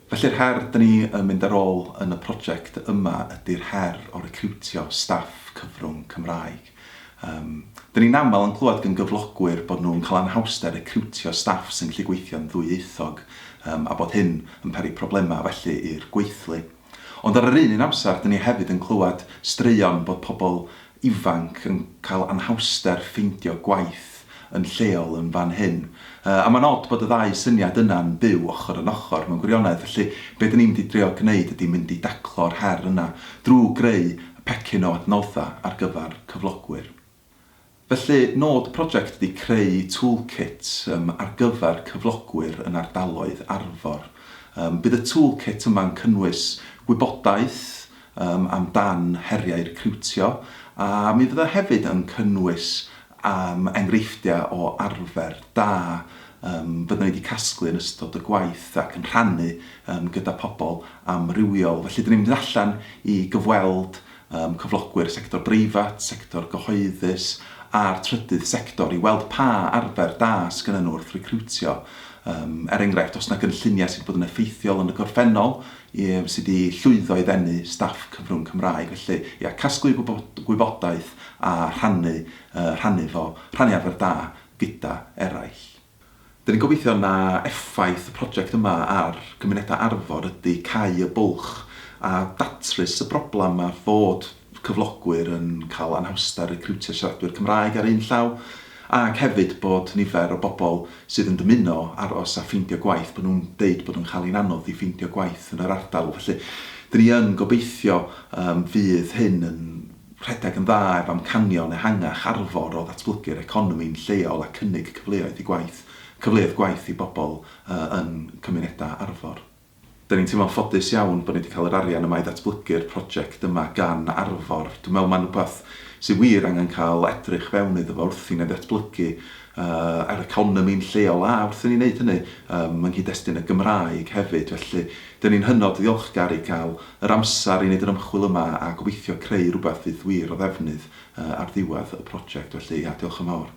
Felly'r her 'da ni yn mynd ar ôl yn y project yma ydy'r her o recriwtio staff cyfrwng Cymraeg. Yym, 'da ni'n aml yn clywed gan gyflogwyr bod nhw'n cael anhawster recriwtio staff sy'n gallu gweithio'n ddwyieithog yym a bod hyn yn peri problemau felly i'r gweithlu. Ond ar yr un un amser 'da ni hefyd yn clywed straeon bod pobl ifanc yn cael anhawster ffeindio gwaith yn lleol yn fan hyn. A mae'n od bod y ddau syniad yna'n byw ochr yn ochr, mewn gwirionedd. Felly, be dyn ni'n mynd i drio gwneud ydy mynd i daclo'r her yna drwy greu pecyn o adnoddau ar gyfer cyflogwyr. Felly, nod y project ydy creu toolkit ar gyfer cyflogwyr yn ardaloedd Arfor. Bydd y toolkit yma'n cynnwys gwybodaeth um, am dan heriau recriwtio, a mi fydda hefyd yn cynnwys um, enghreifftiau o arfer da um, fydda ni wedi casglu yn ystod y gwaith ac yn rhannu um, gyda pobl amrywiol. Felly, dyn ni'n mynd allan i gyfweld um, cyflogwyr sector breifat, sector gyhoeddus a'r trydydd sector i weld pa arfer da sgynnyn nhw wrth recriwtio. Um, er enghraifft, os yna gynlluniau sydd wedi bod yn effeithiol yn y gorffennol, Ie, wnes i 'di llwyddo i ddenu staff cyfrwng Cymraeg, felly ia, casglu gwybodaeth a rhannu, rhannu fo, rhannu arfer da gyda eraill. Dyn ni'n gobeithio na effaith y project yma ar gymunedau Arfor ydi cau y bwlch a datrys y broblam ma fod cyflogwyr yn cael anhawster recriwtio siaradwyr Cymraeg ar un llaw, Ac hefyd bod nifer o bobl sydd yn dymuno aros a ffeindio gwaith, bod nhw'n deud bod o'n cael hi'n anodd i ffeindio gwaith yn yr ardal. Felly, dyn ni yn gobeithio yym fydd hyn yn rhedeg yn dda ef amcanion ehangach Arfor o ddatblygu'r economi'n lleol a cynnig cyfleoedd i gwaith, cyfleoedd gwaith i bobl yy yn cymunedau Arfor. Dan ni'n teimlo'n ffodus iawn bod ni 'di cael yr arian yma i ddatblygu'r project yma gan Arfor. Dwi'n meddwl mae'n rhywbeth sydd wir angen cael edrych fewn iddo fo wrth i ni ddatblygu yr economi'n lleol a wrth i ni wneud hynny yng nghyd-destun y Gymraeg hefyd. Felly, dan ni'n hynod ddiolchgar i gael yr amser i wneud yr ymchwil yma a gobeithio creu rhywbeth fydd wir o ddefnydd ar ddiwedd y project. Felly, ia, diolch yn fawr.